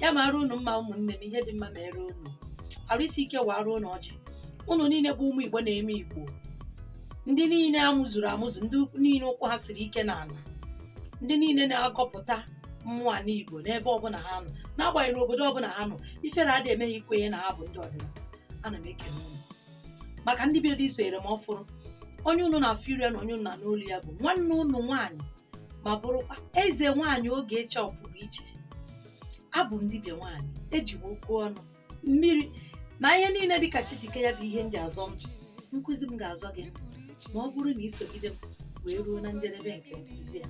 ya mara unu mma ụmụnne m ihe dị mma mere unu arụ isi ike wara unu ọjị unu niile bụ ụmụ igbo na-eme igbo ndị niile amụzuru amụzu ndị niile ụkwụ ha siri ike n'ala ndị niile na-agọpụta mmụọ ala igbo n'ebe ọbụla ha nọ n'agbanyeghị n'obodo ọbụla ha nọ ifere adị eme ha ikwenye na ha bụ ndị ọdịnala ana m ekele unu maka ndị bidoro isonyere m ọfụrụ onye unu na-afụ iru ya na onye unu na-anụ olu ya bụ nwanne unu nwaanyị ma bụrụkwa eze nwaanyị ogechi ọpụrụ iche abụ m dibịa nwaanyị eji m okwu ọnụ mmiri na ihe niile dịka chi si kee ya bụ ihe m ji azọ ndụ nkụzi m ga-azọ gị ma ọ bụrụ na ị sogide m wee ruo na njedebe nke nkụzi ya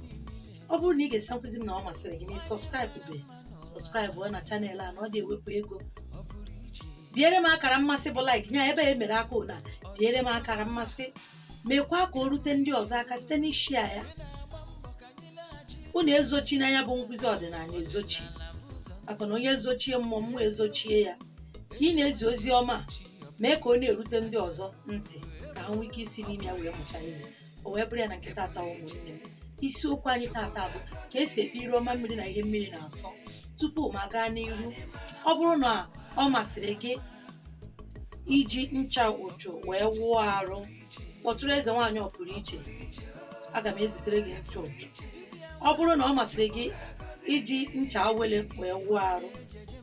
ọ bụrụ na ị gesi nkụzi m na ọ masịrị gị na ị subscribe be subscribe na channel a na ọ dị ewepụ ego biere m akara mmasị bụ like nya ebe e mere aka ụna biere m akara mmasị mekwaa ka o rute ndị ọzọ aka site n'ịshare ya unu ezochina ya bụ nkụzi ọdịnala ezochi maka na onye zochie mmụọ mmụọ ezochie ya ka ị na-ezi ozi ọma a, mee ka ọ na-erute ndị ọzọ ntị ka ha nwee ike isi n'ime ya wee mụta ihe o wee bụrụ ya na nke tata ụmụnne m isiokwu anyị tata bụ ka e si ekpe ire ọma mmiri na ihe mmiri na-asọ tupu m agaa n'ihu ọ bụrụ na ọ masịrị gị iji ncha ụchụ wee wụọ arụ kpọtụrụ eze nwaanyị ọpụrụ iche aga m ezitere gị ncha ụchụ ọ bụrụ na ọ masịrị gị iji ncha awele wee wụọ arụ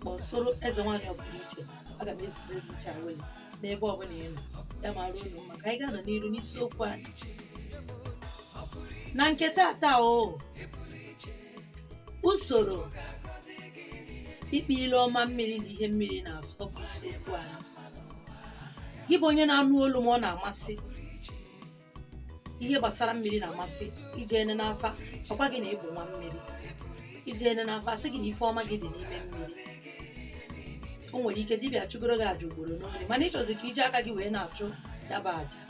kpọtụrụ eze nwaanyị ọpụrụ iche aga m ezitere gị ncha awele n'ebe ọbụla ị nọ ya mara unu mma ka anyị gaanụ n'iru n'isiokwu anyị na nke tata o usoro ikpe ile ọma mmiri na ihe mmiri na-asọ bụ isiokwu anyị gị bụ onye na-anụ olu m ọ na-amasị ihe gbasara mmiri na-amasị i je e nee n'afa a gwa gị na ị bụ nwa mmiri i je e nee n'afa a sị gị na ife ọma gị dị n'ime mmiri o nwere ike dibịa chụgoro gị aja ugboro n'oge mana ị chọzi ka i ji aka gị wee na-achụ ya bụ aja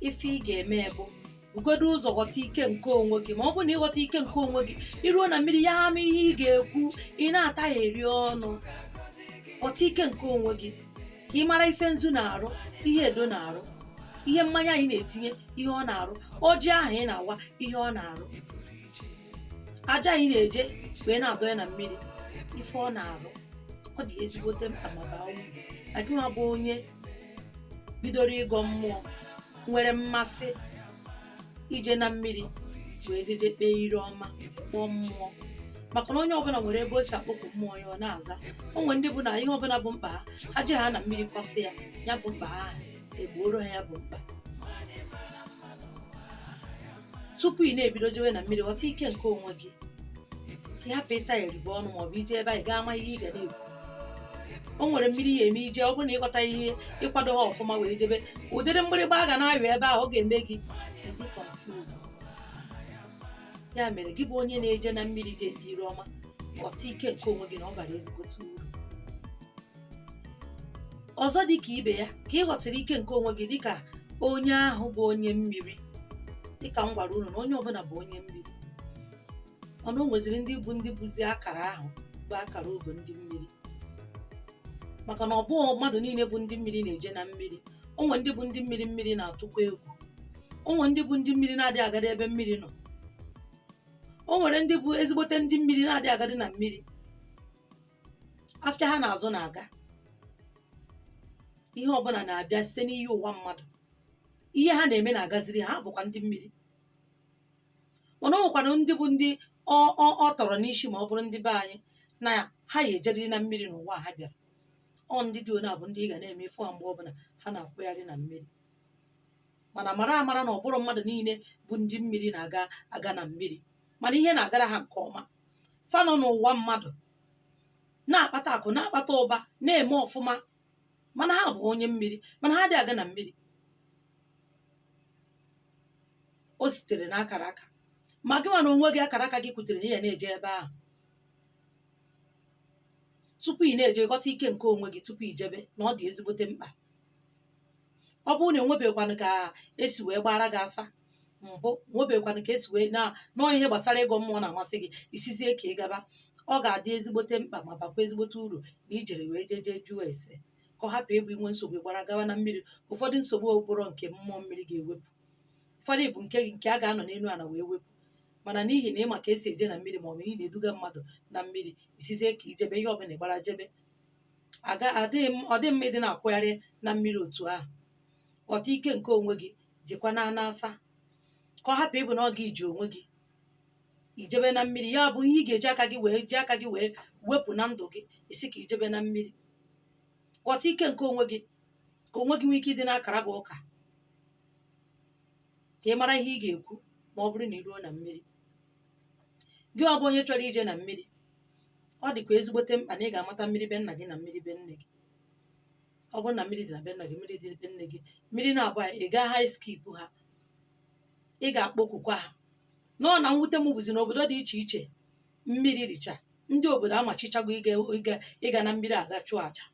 ife ị ga-eme bụ bugodu ụzọ ghọta ike nke onwe gị ma ọ bụrụ na ị ghọta ike nke onwe gị i ruo na mmiri ya ama ihe ị ga-ekwu ị na-atagheri ọnụ ghọta ike nke onwe gị ka ị mara ife nzu na-arụ ihe edo na-arụ ihe mmanya anyị na-etinye ihe ọ na-arụ ọjị ahụ ị na-awa ihe ọ na-arụ aja anyị na-eje wee na-adọ ya na mmiri ife ọ na-arụ ọ dị ezigbote mkpa ma baa uru na gị nwa bụ onye bidoro ịgọ mmụọ nwere mmasị ije na mmiri wee jeje kpee ire ọma kpọọ mmụọ maka na onye ọbụla nwere ebe o si akpọku mmụọ ya ọ na-aza o nwere ndị bụ na ihe ọbụla bụ mkpa ha ha je ha na mmiri kwasị ya ya bụ mkpa ha ahụ e gbooro ha ya bụ mkpa tupu ị na-ebido jewe na mmiri ghọta ike nke onwe gị ka ị hapụ ịta eribe ọnụ maọbụ ije ebe a ị gaa ama ihe ị ga na-ekwu o nwere mmiri ị ya-eme ije ọ bụrụ na ị ghọta ihe ị kwado ha ọfụma wee jebe ụdịrị mgbịrịgba a ga na-ayọ ebe ahụ ọ ga-eme gị ịdị confused ya mere gị bụ onye na-eje na mmiri je ebe ire ọma ghọta ike nke onwe gị na ọ bara ezigbote uru ọzọ dị ka ibe ya ka ị ghọtara ike nke onwe gị dịka onye ahụ bụ onye mmiri dịka m gwara unu na onye ọbụla bụ onye mmiri mana o nweziri ndị bụ ndị bụzi akara ahụ bụ akara ogo ndị mmiri maka na ọ bụghị mmadụ niile bụ ndị mmiri na-eje na mmiri o nwere ndị bụ ndị mmiri mmiri na-atụkwa egwu o nwere ndị bụ ndị mmiri na-adịghị agadi ebe mmiri nọ o nwere ndị bụ ezigbote ndị mmiri na-adịghị agadi na mmiri afịa ha na-azụ na-aga ihe ọbụla na-abịa site n'ihe ụwa mmadụ ihe ha na-eme na-agaziri ha ha bụkwa ndị mmiri mana o nwekwanụ ndị bụ ndị ọ ọ ọ tọrọ n'isi ma ọ bụrụ ndị be anyị na ha ya-ejeriri na mmiri n'ụwa a ha bịara ọ ndị dị one a bụ ndị ị ga na-eme ị fụ ha mgbe ọbụla ha na-akwụgharị na mmiri mana mara amara na ọ bụrọ mmadụ niile bụ ndị mmiri na-aga aga na mmiri mana ihe na-agara ha nke ọma fa nọ n'ụwa mmadụ na-akpata akụ na-akpata ụba na-eme ọfụma mana ha bụ onye mmiri mana ha adị aga na mmiri o sitere na akara aka ma gịnwa na onwe gị akara aka gị kwutere na ị ya na-eje ebe ahụ tupu ị na-eje ghọta ike nke onwe gị tupu ijebe na ọ dị ezigbote mkpa ọ bụrụ na enwebekwanụ ka esi wee gbara gị afa mbụ enwebekwanụ ka esi wee na nọọ ihe gbasara ịgọ mmụọ na-amasị gị ị sịzie ka ị gaba ọ ga-adị ezigbote mkpa ma bakwa ezigbote uru na i jere wee jee jee jụọ ese ka ọ hapụ ịbụ i nwee nsogbu ị gbara gawa na mmiri ụfọdụ nsogbu ọ bụrọ nke mmụọ mmiri ga-ewepụ ụfọdụ bụ nke nke a ga-anọ n'elu ala wee wepụ mana n'ihi na ị ma ka esi eje na mmiri ma ọ bụ ị na-eduga mmadụ na mmiri ị sịzie ka i jebe ihe ọbụla ị gbara jebe ọ dị mma ịdị na-akwụgharị na mmiri otu ahụ ghọta ike nke onwe gị jekwa na n'afa ka ọ hapụ ịbụ na ọ gị ji onwe gị i jebe na mmiri ya bụ ihe ị ga-eji aka gị wee ji aka gị wee wepụ na ndụ gị ị sị ka i jebe na mmiri ghọta ike nke onwe gị ka onwe gị nwee ike ịdị na-akara gị ụka ka ị mara ihe ị ga-ekwu ma ọ bụrụ na ị ruo na mmiri gị ahụ bụ onye chọrọ ije na mmiri ọ dịkwa ezigbote mkpa na ị ga-amata mmiri be nna gị na mmiri be nne gị ọ bụrụ na mmiri dị na be nna gị mmiri dị be nne gị mmiri naabọ ị gaha eskip ha ị ga-akpọkukwa ha mana mwute m bụzi n'obodo dị iche iche mmiri dịcha ndị obodo amachichago ịga na mmiri aga chụọ aja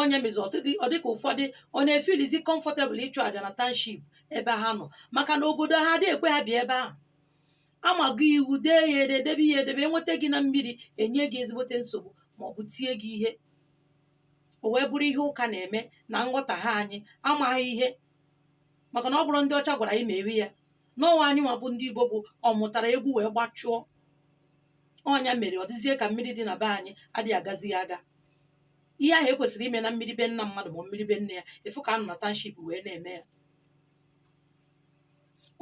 ọ ya mezi ọ dịka ụfọdụ ọ na-efilizi comfortable ịchụ aja na township ebe ha nọ maka na obodo ha adịghị ekwe ha bịa ebe ahụ amago iwu dee ya ede debe ya edebe enweta gị na mmiri enye gị ezigbote nsogbu ma ọ bụ tie gị ihe o wee bụrụ ihe ụka na-eme na nghọtahie anyị amaghị ihe maka na ọ bụrọ ndị ọcha gwara anyị mewe ya n'ọnwa anyị nwa bụ ndị igbo bụ ọ mụtara egwu wee gbachụọ ọ ya mere ọ dịzie ka mmiri dị na be anyị adịghị agazi ya aga ihe ahụ ekwesịrị ime na mmiri be nna mmadụ ma mmiri be nne ya ị fụ ka a nọ na township wee na-eme ya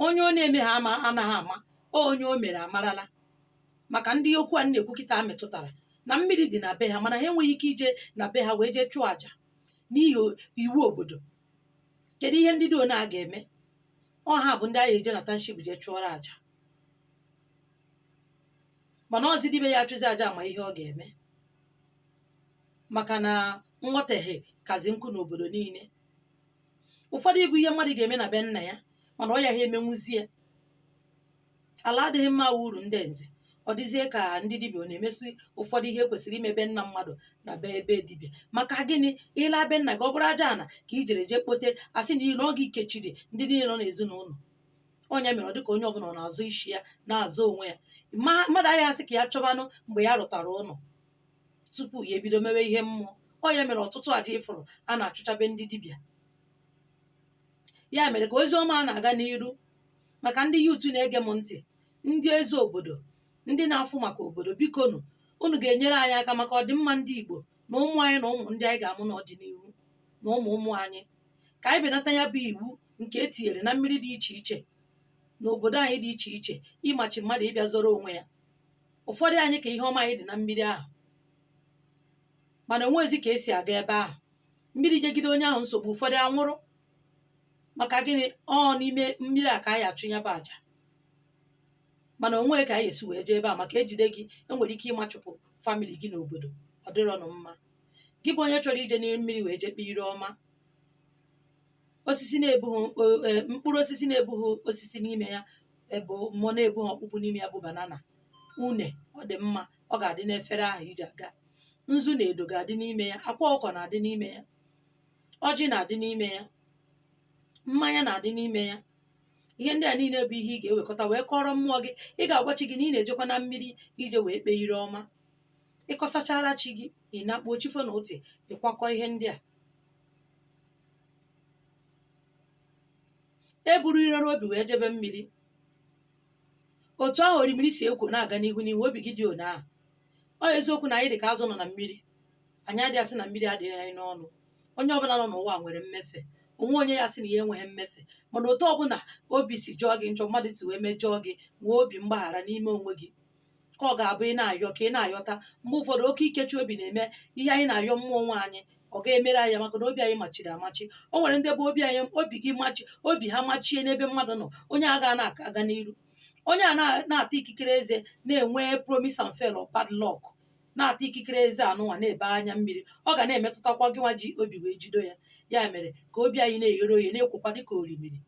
onye ọ na-eme ha anaghị ama onye o mere amarala maka ndị okwu a na-ekwu kịtaa metụtara na mmiri dị na be ha mana ha enweghị ike ije na be ha wee jee chụọ àjà n'ihi o- iwu obodo kedu ihe ndị dị one a ga-eme ọ ha bụ ndị a ga-eje na township jee chụọrọ àjà mana ọzi dibịa achụzi àjà ma ihe ọ ga-eme maka na nghọtahie kazi nkụ n'obodo niile ụfọdụ ịbụ ihe mmadụ ga-eme na be nna ya mana ọ yaha emenwuzie Ala adịghị mma wụ uru ndị nze. Ọ dịzie ka ndị dibịa ọ na-emezi ụfọdụ ihe kwesịrị ime be nna mmadụ na be dibịa. Maka gịnị? Ị laa be nna gị, ọ bụrụ aja ana ka i jere jee kpote, a sị na ọ gị kechiri ndị niile nọ n'ezinụlọ. Ọ ya mere ọ dị ka onye ọbụla ọ na-azọ isi ya, na-azọ onwe ya. Mmadụ agaghị asị ka ya chọbanụ mgbe ya rụtara ụlọ tupu ya ebido mewe ihe mmụọ. Ọ ya mere ọtụtụ aja ị fụrụ a na-achụcha be ndị dibịa. Ya mere ka ozi ọma a na-aga n'iru maka ndị youth na-ege m ntị ndị eze obodo ndị na-afụ maka obodo bikonụ unu ga-enyere anyị aka maka ọdịmma ndị Igbo na ụmụ anyị na ụmụ ndị anyị ga-amụ n'ọdịnihu na ụmụ ụmụ anyị ka anyị benata ya bụ iwu nke e tinyere na mmiri dị iche iche na obodo anyị dị iche iche ịmachi mmadụ ịbịa zọrọ onwe ya ụfọdụ anyị ka ihe ọma anyị dị na mmiri ahụ mana o nwezi ka esi aga ebe ahụ mmiri nyegide onye ahụ nsogbu ụfọdụ anwụrụ maka gịnị ọ n'ime mmiri a ka anyị achụ ya bụ aja mana o nwe ka anyị esi wee jee ebe a maka ejide gị enwere ike ịmachụpụ family gị n'obodo ọ dịrọnụ mma gị bụ onye chọrọ ije n'ime mmiri wee jee kpee ire ọma osisi na-ebughị mkpụ- eh, mkpụrụ osisi na-ebughị osisi n'ime ya ebe mmụọ na-ebughị ọkpụkpụ n'ime ya bụ banana une ọ dị mma ọ ga-adị n'efere ahụ i ji aga nzu na edo ga-adị n'ime ya akwa ọkụkọ na-adị n'ime ya ọjị na-adị n'ime ya mmanya na-adị n'ime ya ihe ndị a niile bụ ihe ị ga-ewekọta wee kọọrọ mmụọ gị ị ga-agwa chi gị na ị na-ejekwa na mmiri i jee wee kpee ire ọma ị kọsachara chi gị ị nakpuo chi fo n'ụtụtụ ị kwakọ ihe ndị a e buru iro n'obi wee jebe mmiri otu ahụ orimiri si ekwo na-aga n'ihu n'ihu obi gị dị one ahụ ọ eziokwu na anyị dị ka azụ nọ na mmiri anyị adịghị asị na mmiri adịghị anyị n'ọnụ onye ọbụla nọ n'ụwa nwere mmefe o nweghị onye ga-asị na ya enweghị mmefe mana otu ọbụla obi si jọọ gị njọ mmadụ si wee mejọọ gị nwee obi mgbaghara n'ime onwe gị ka ọ ga-abụ ị na-ayọ ka ị na-ayọta mgbe ụfọdụ oke ikechi obi na-eme ihe anyị na-ayọ mmụọ nwe anyị ọ gaghị emere anyị ya maka na obi anyị machiri amachi o nwere ndị bụ obi anyị obi gị machi obi ha machie n'ebe mmadụ nọ onye a ga na-aka aga n'iru onye a na- na-ata ikikere eze na-enwe promise and fail or bad luck na-ata ikikere eze anụnwa na-ebe anya mmiri ọ ga na-emetụtakwa gị nwa ji obi wee jido ya ya mere ka obi anyị na-eghere oye na-ekwokwa dịka orimiri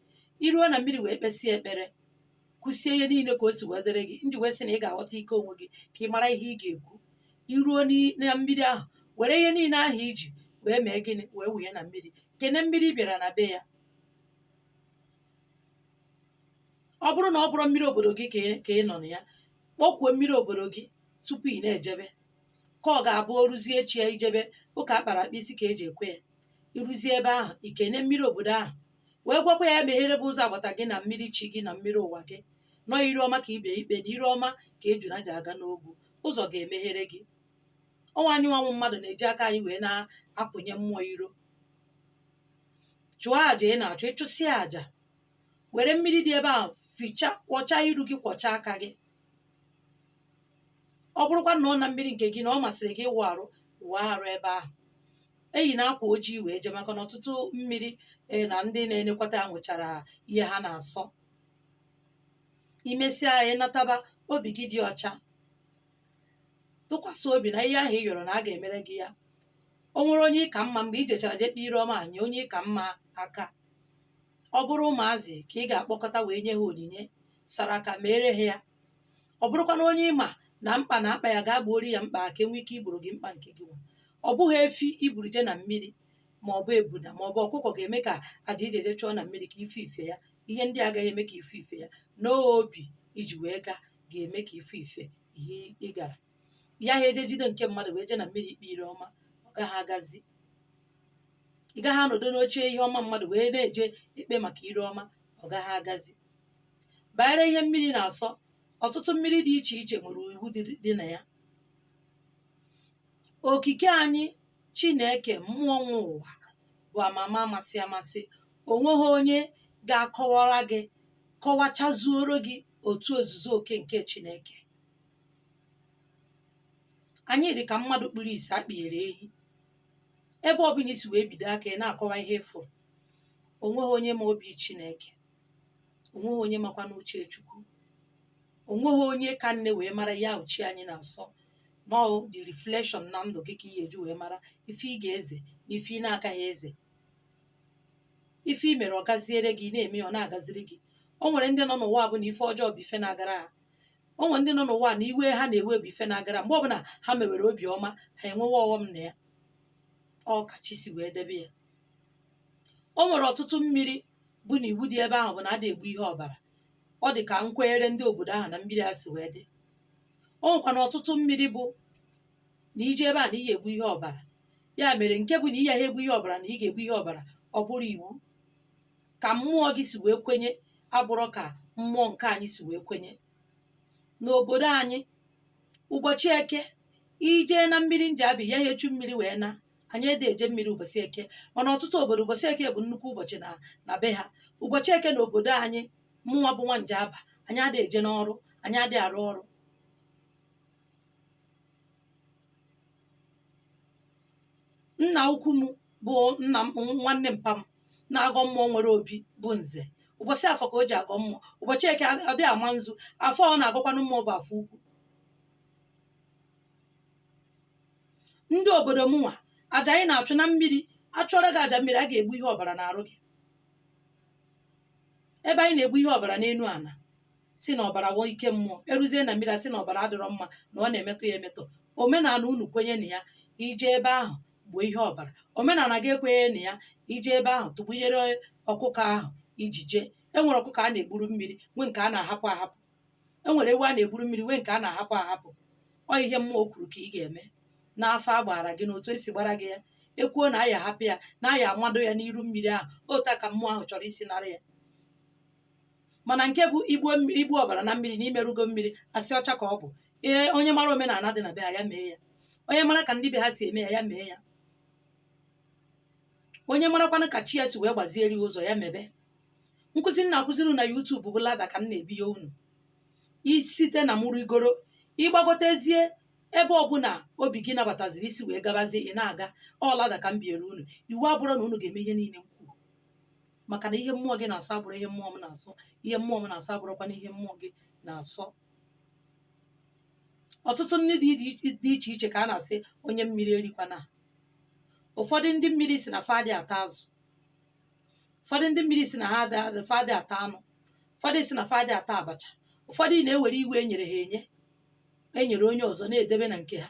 i ruo na mmiri wee kpesịa ekpere kwusie ihe niile ka o si wee dịrị gị m ji wee sị na ị ga-aghọta ike onwe gị ka ị mara ihe ị ga-ekwu i ruo n'i- na mmiri ahụ were ihe niile ahụ i ji wee mee gịnị wee wụnye na mmiri kene mmiri ị bịara na be ya ọ bụrụ na ọ bụrụ mmiri obodo gị ka ị- ka ị nọ na ya kpọkwuo mmiri obodo gị tupu ị na-ejebe ka ọ ga-abụ o ruzie echi ya i jebe ụka akpara akpa isi ka e ji ekwe ya i ruzie ebe ahụ i kene mmiri obodo ahụ wee gwakwa ya meghere gị ụzọ agbata gị na mmiri chi gị na mmiri ụwa gị nọ ire ọma ka ị bịa ikpe na ire ọma ka ejuna ji aga n'ogwu ụzọ ga-emeghere gị ọ wụ anyị nwa wụ mmadụ na-eji aka anyị wee na-apụnye mmụọ iro chụọ àjà ị na-achụ ị chụsịa àjà were mmiri dị ebe ahụ fichaa kwọchaa iru gị kwọchaa aka gị ọ bụrụkwa na ọ na mmiri nke gị na ọ masịrị gị ịwụ arụ wụọ arụ ebe ahụ eyina akwa ojii wee jee maka na ọtụtụ mmiri e, na ndị na-enekwata ya nwechara ihe ha na-asọ i mesịa ya ị nataba obi gị dị ọcha tụkwasị obi na ihe ahụ ị yọrọ na a ga-emere gị ya o nwere onye ị ka mma mgbe i jechara je kpee ire ọma nye onye ị ka mma aka ọ bụrụ ụmụazị ka ị ga-akpọkọta wee nye ha onyinye saraka meere ha ya ọ bụrụkwa na onye ị ma na mkpa na-akpa ya gaa gbooro ya mkpa ka e nwee ike igboro gị mkpa nke gị nwa ọ bụghị efi i buru je na mmiri ma ọ bụ ebuna ma ọ bụ ọkụkọ ga-eme ka aja i ji eje chụọ na mmiri ka ife ife ya ihe ndị a gaghị eme ka ife ife ya n'obi i ji wee gaa ga-eme ka ife ife ihe ị gara ị gaghị eje jide nke mmadụ wee je na mmiri ikpe ire ọma ọ gaghị agazi ị gaghị anọdụ n'oche ihe ọma mmadụ wee na-eje ekpe maka ire ọma ọ gaghị agazi banyere ihe mmiri na-asọ ọtụtụ mmiri dị iche iche nwere iwu dị na ya okike anyị chineke mmụọ nwe ụwa bụ amama amasị amasị o nweghị onye ga-akọwara gị kọwachazuoro gị otu ozuzu oke nke chineke anyị dị ka mmadụ kpuru isi akpịghere ehi ebe ọbụla i si wee bido aka ị na-akọwa ihe ị fụrụ o nweghị onye ma obi chineke o nweghị onye makwanụ uche chukwu o nweghị onye ka nne wee mara ihe chi anyị na-asọ na ọ the reflection na ndụ gị ka ị ga-eji wee mara ife ị ga-eze na ife ị na-agaghị eze ife i mere ọ gaziere gị ị na-eme ya ọ na-agaziri gị o nwere ndị nọ n'ụwa bụ na ife ọjọọ bụ ife na-agara ha o nwere ndị nọ n'ụwa na iwe ha na-ewe bụ ife na-agara mgbe ọbụla ha mewere obi ọma ha enwewe ọghọm na ya ọ ka chi si wee debe ya o nwere ọtụtụ mmiri bụ na iwu dị ebe ahụ bụ na adị egbu ihe ọbara ọ dị ka nkwenyere ndị obodo ahụ na mmiri a si wee dị o nwekwanụ ọtụtụ mmiri bụ na i jee ebe a na ị ga-egbu ihe ọbara ya mere nke bụ na ị yaghị egbu ihe ọbara na ị ga-egbu ihe ọbara ọ bụrụ iwu ka mmụọ gị si wee kwenye abụrọ ka mmụọ nke anyị si wee kwenye n'obodo anyị ụbọchị eke i jee na mmiri njaba ị yaghị echu mmiri wee na anyị adị eje mmiri ụbọchị eke mana ọtụtụ obodo ụbọchị eke bụ nnukwu ụbọchị na be ha ụbọchị eke na obodo anyị mụnwa bụ nwa njaba anyị adị eje n'ọrụ anyị adị arụ ọrụ nna ukwu m bụ nna m nwanne mpa m na-agọ mmụọ nwere obi bụ nze ụbọchị afọ ka o ji agọ mmụọ ụbọchị eke ọ dị ama nzu afọ ọ na-agọkwanụ mmụọ bụ afọ ukwu ndị obodo mụnwa aja anyị na-achụ na mmiri a chụọrọ gị aja mmiri a ga-egbu ihe ọbara n'arụ gị ebe anyị na-egbu ihe ọbara n'enu ana sị na ọbara wụ ike mmụọ eruzie na mmiri a sị na ọbara adịrọ mma na ọ na-emetọ ya emetọ omenala unu kwenye na ya i jee ebe ahụ gbuo ihe ọbara omenala gị ekwenye na ya i jee ebe ahụ tụgbunyere ọkụkọ ahụ i ji jee e nwere ọkụkọ a na-egburu mmiri nwee nke a na-ahapụ ahapụ e nwere ewu a na-egburu mmiri nwee nke a na-ahapụ ahapụ ọ ihe mmụọ kwuru ka ị ga-eme n'afa a gbaara gị n'otu e si gbaara gị ya e kwuo na a ya-ahapụ ya na a ya-amado ya n'iru mmiri ahụ otu a ka mmụọ ahụ chọrọ isi nara ya mana nke bụ igbu ọbara na mmiri na i merụgo mmiri asị ọcha ka ọ bụ ee onye mara omenala dị na be ha ya mee ya onye mara ka ndị be ha si eme ya ya mee ya onye marakwanụ ka chi ya si wee gbaziere ya ụzọ ya mebe nkụzi m na-akụziri na YouTube bụ lada ka m na-ebiye unu i site na mụ rigoro ị gbagotezie ebe ọbụna obi gị nabataziri i si wee gabazie ị na-aga ọ lada ka m biere unu iwu abụrụ na unu ga-eme ihe niile m kwuru maka na ihe mmụọ gị na-asọ abụrụ ihe mmụọ m na-asọ ihe mmụọ m na-asọ abụrụkwa na ihe mmụọ gị na-asọ ọtụtụ nri dị dị- dị iche iche ka a na-asị onye mmiri erikwana ụfọdụ ndị mmiri sị na fa adị ata azụ ụfọdụ ndị mmiri sị na ha adị fa adị ata anụ ụfọdụ sị na fa adị ata abacha ụfọdụ na-ewere iwu e nyere ha enye e nyere onye ọzọ na-edebe na nke ha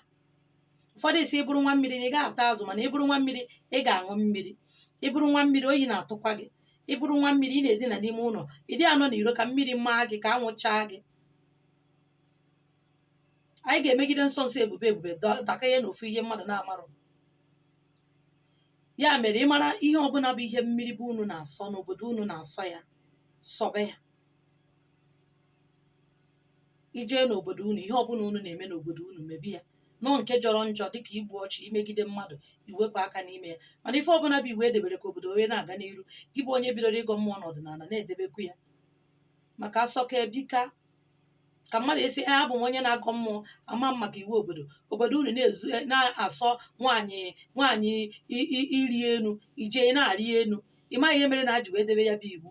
ụfọdụ sị ị bụrụ nwa mmiri na ị gaghị ata azụ mana ị bụrụ nwa mmiri ị ga-aṅụ mmiri ị bụrụ nwa mmiri oyi na-atụkwa gị ị bụrụ nwa mmiri ị na-edina n'ime ụlọ ị dị anọ n'iro ka mmiri maa gị ka anwụ chaa gị anyị ga-emegide nsọ nsọ ebube ebube dọ- dakanye n'ofu ihe mmadụ na-amarụ ya mere ị mara ihe ọbụna bụ ihe mmiri be unu na-asọ n'obodo unu na-asọ ya sọbe ya i jee n'obodo unu ihe ọbụna unu na-eme n'obodo unu mebe ya nọọ nke jọrọ njọ dịka igbu ọchụ imegide mmadụ i wepụ aka n'ime ya mana ife ọbụna bụ iwu e debere ka obodo wee na-aga n'iru gị bụ onye bidoro ịgọ mmụọ n'ọdịnala na-edebekwu ya maka a sọka e bika ka mmadụ esi ee abụ m onye na-agọ mmụọ ama m maka iwu obodo obodo unu na-ezu e, na-asọ nwaanyị nwaanyị ị- ị- ịrị enu i jee na-arị enu ị maghị ihe mere na ha ji wee debe ya bụ iwu